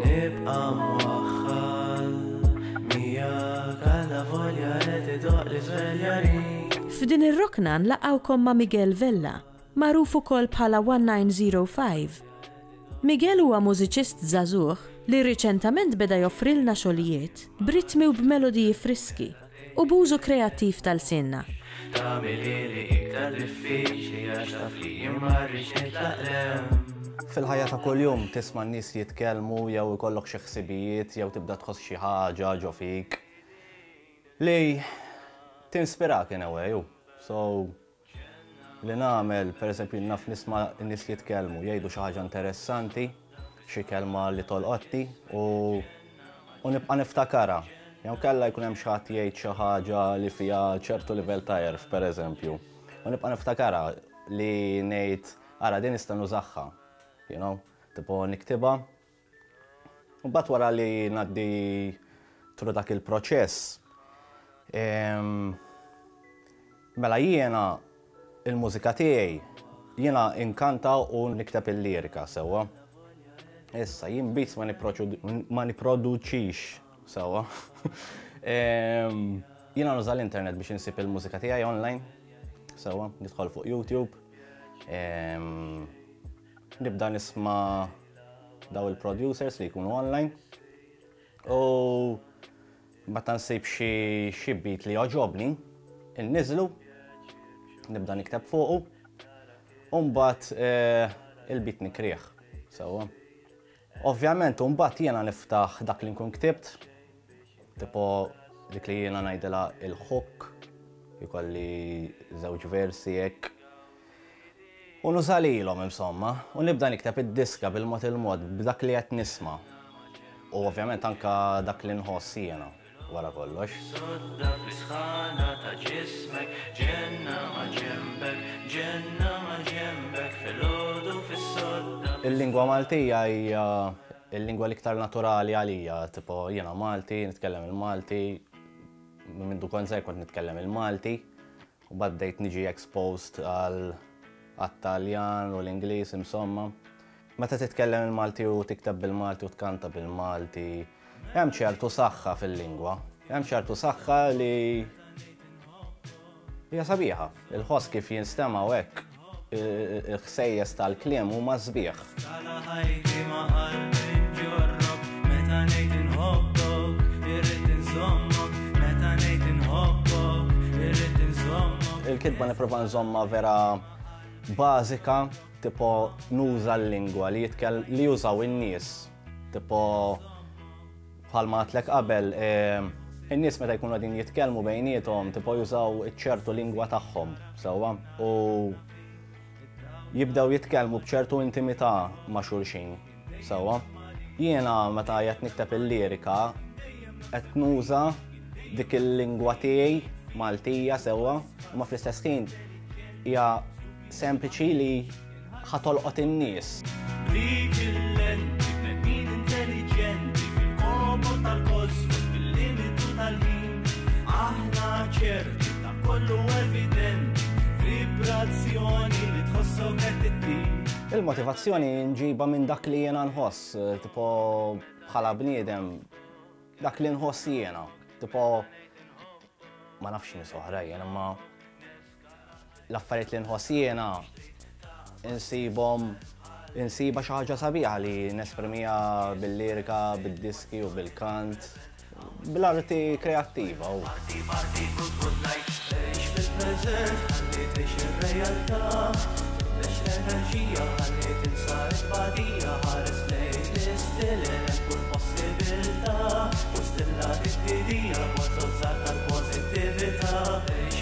Nibqa' mwaħħal miegħek għala volja qed idoqq l-iżvelja rik. F'din ir-rokna nlaqgħukom ma' Miguel Vella, magħruf ukoll bħala 1905. Miguel huwa mużiċist żagħżugħ li riċentament beda joffrilna xogħlijiet b'ritmi u b'melodiji friski. U b'użu kreattiv ta' lsienna. Tagħmilhieli iktar diffiċli għax taf li jien ma rridx nitlaq 'l hemm. Fil-ħajja ta' kuljum tisma' n-nies jitkellmu jew ikollok xi ħsibijiet jew tibda tħoss xi ħaġa ġo fik li tinspirak in a way u so li nagħmel, pereżempju jien naf nisma' n-nies jitkellmu, jgħidu xi ħaġa interessanti, xi kelma li tolqotni u u nibqa' niftakarha. Jew inkella jkun hemm xi ħadd jgħid xi ħaġa li fiha ċertu livell ta' għerf, pereżempju, u nibqa' niftakarha li ngħid ara din nista' nużagħha, you know, tipo niktibha. Imbagħad wara li ngħaddi through dak il-proċess, mela jiena l-mużika tiegħi jiena inkanta u nikteb il-lirika sewwa. Issa jien beats ma nipproduċix sewwa. Jiena nuża l-internet biex insib il-mużika tiegħi online sewwa, nidħol fuq YouTube. Nibda nisma daw il-producers li jkunu online. U meta nsib xi beat li joġobni, inniżlu, nibda nikteb fuqu, u mbagħad eh, il-beat nikrih. Sewwa. Ovvjament u mbagħad jiena niftaħ dak li nkun ktibt, tipo dik li jiena ngħidilha il-hook, ikolli żewġ versi hekk. U nuża lilhom insomma, u nibda nikteb id-diska bil-mod il-mod b'dak li qed nisma'. U ovvjament anke dak li nħoss jiena. wara kollox. Sodda fl-isħana ta' ġismek, ġenna ma' ġenbek, ġenna ma' ġenbek, filgħodu fis-sodda. Il-lingwa Maltija hija l-lingwa l-iktar naturali għalija, tipo jiena Malti, nitkellem il-Malti, minn mindu kont żgħir kont nitkellem il-Malti, U mbagħad bdejt niġi exposed għal għat-Taljan u l-Ingliż insomma. Meta titkellem il-Malti u tikteb bil-Malti u tkanta bil-Malti, hemm ċertu saħħa fil-lingwa. Hemm ċertu saħħa li hija sabiħa. Il-ħoss kif jinstema' u hekk. Il-ħsejjes tal-kliem huma sbieħ. Tala' ħajti ma' qalbi nġorrok, meta ngħid inħobbok, irrid inżommok, meta ngħid inħobbok, irrid inżommok. Il-kitba nipprova nżommha vera bażika, tipo nuża l-lingwa li jużaw in-nies, tipo. Bħalma għatlek qabel, in-nies meta jkunu qegħdin jitkellmu bejniethom tipo jużaw iċ-ċertu lingwa tagħhom sewwa u jibdew jitkellmu b'ċertu intimità ma' xulxin sewwa. Jiena meta qed nikteb il-lirika qed nuża dik il-lingwa tiegħi Maltija sewwa, ma fl-istess ħin hija sempliċi li Ħa tolqot in-nies. B'dik il-lenti bnedmin intelliġenti fil-komo tal-kosmos bil-limitu tal-ħin. Aħna ċerti ta' kollu evidenti vibrazzjoni li tħossok qed ittin. Il-motivazzjoni nġiba minn dak li jiena nħoss, tipo bħala bniedem, dak li nħoss jiena, tipo ma nafx nies oħra jiena ma l-affarijiet li nħoss jiena insibhom insibha xi ħaġa sabiħa li nesprimiha bil-lirika, bid-diski u bil-kant, bl-arti kreattiva. Thank you.